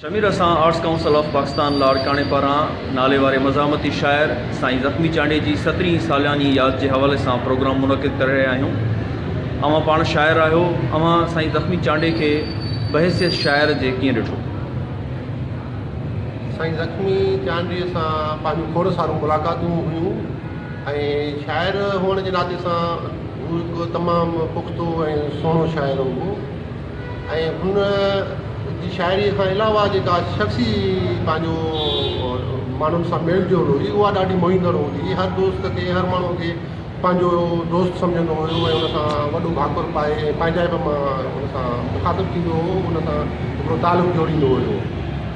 شمير اسان arts council of Pakistan لاڙڪاڻي پاران ناليواري مزاحمتي شاعر سائين زخمي چانڊيي جي سترهين سالياني ياد جي حوالي سان پروگرام منعقد ڪري رهيا آهيون اوهان پاڻ شاعر آهيو اوهان سائين زخمي چانڊيي کي بحيثيت شاعر جي ڪيئن ڏٺو؟ سائين زخمي چانڊيي سان پنهنجون کوڙ سارون ملاقاتون هيون ۽ شاعر هئڻ جي ناتي سان هو هڪ تمام پختو ۽ سهڻو شاعر هو ۽ هن جي شاعريء کان علاوه جيڪا شخصي پنهنجو ماڻهن سان ميل جول هئي اها ڏاڍي موهيندڙ هوندي هئي هر دوست کي هر ماڻهو کي پنهنجو دوست سمجهندو هو ۽ ان سان وڏو ڀاڪر پائي ۽ پنهنجائپ مان ان سان مخاطب ٿيندو هو ان سان هڪڙو تعلق جوڙيندو هيو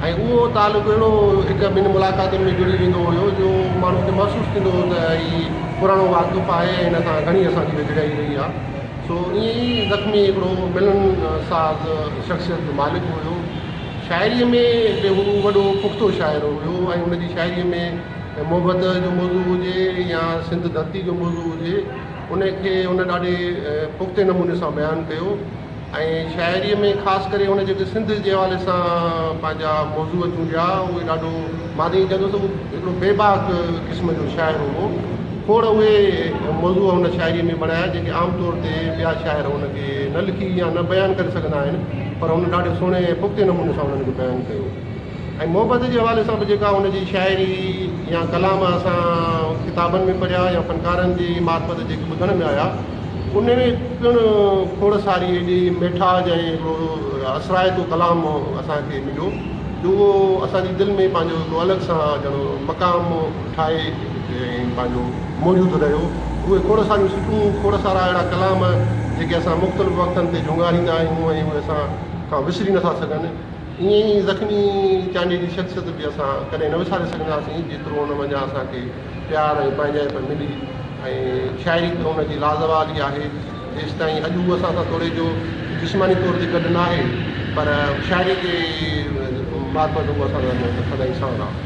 ۽ اهو تعلق اهڙو هڪ ٻن ملاقاتن ۾ جڙي ويندو هيو جو ماڻهو کي محسوس ٿيندو هو ته هي پراڻو واقف آهي ۽ هن سان گهڻي اسان جي ويجهڙائي رهي آهي سو ائين ئي زخمي هڪڙو ملن ساز شخصيت جو مالڪ هيو. شاعريء ۾ به هو وڏو پختو شاعر هيو ۽ هن جي شاعريء ۾ محبت جو موضوع هجي يا سنڌ ڌرتي جو موضوع هجي ان کي هن ڏاڍي پختي نموني سان بيان ڪيو ۽ شاعريء ۾ خاص ڪري هن جيڪي سنڌ جي حوالي سان پنهنجا موضوع چونڊيا اهي ڏاڍو مان ته ائين چوندس ته هو هڪڙو بي باڪ قسم جو شاعر هو. کوڙ اهي موضوع هن شاعريء ۾ بڻايا، جيڪي عام طور تي ٻيا شاعر ان کي نه لکي يا نه بيان ڪري سگهندا آهن، پر هن ڏاڍي سهڻي ۽ پختي نموني سان انهن کي بيان ڪيو ۽ محبت جي حوالي سان به جيڪا هن جي شاعري يا ڪلام اسان ڪتابن ۾ پڙهيا يا فنڪارن جي معرفت جيڪي ٻڌڻ ۾ آيا، انهيء ۾ پڻ کوڙ ساري ايڏي ميٺاج ۽ هڪڙو اثرائتو ڪلام اسان کي مليو، جو اهو اسان جي دل ۾ پنهنجو هڪڙو الڳ سان ڄڻ مقام ٺاهي ۽ پنهنجو موجود رهيو. اهي کوڙ ساريون سٽون، کوڙ سارا اهڙا ڪلام، جيڪي اسان مختلف وقتن تي جهونگاريندا آهيون ۽ اهي اسان کان وسري نٿا سگهن، ائين ئي زخمي چانڊيي جي شخصيت به اسان ڪڏهن نه وساري سگهنداسين، جيترو ان منجهان اسان کي پيار ۽ پنهنجائپ ملي ۽ شاعري ته ان جي لازوال ئي آهي جيستائين اڄ هو اسان سان توڙي جو جسماني طور تي گڏ ناهي پر شاعري جي مارفت هو اسان سان سدائين ساڻ آهي.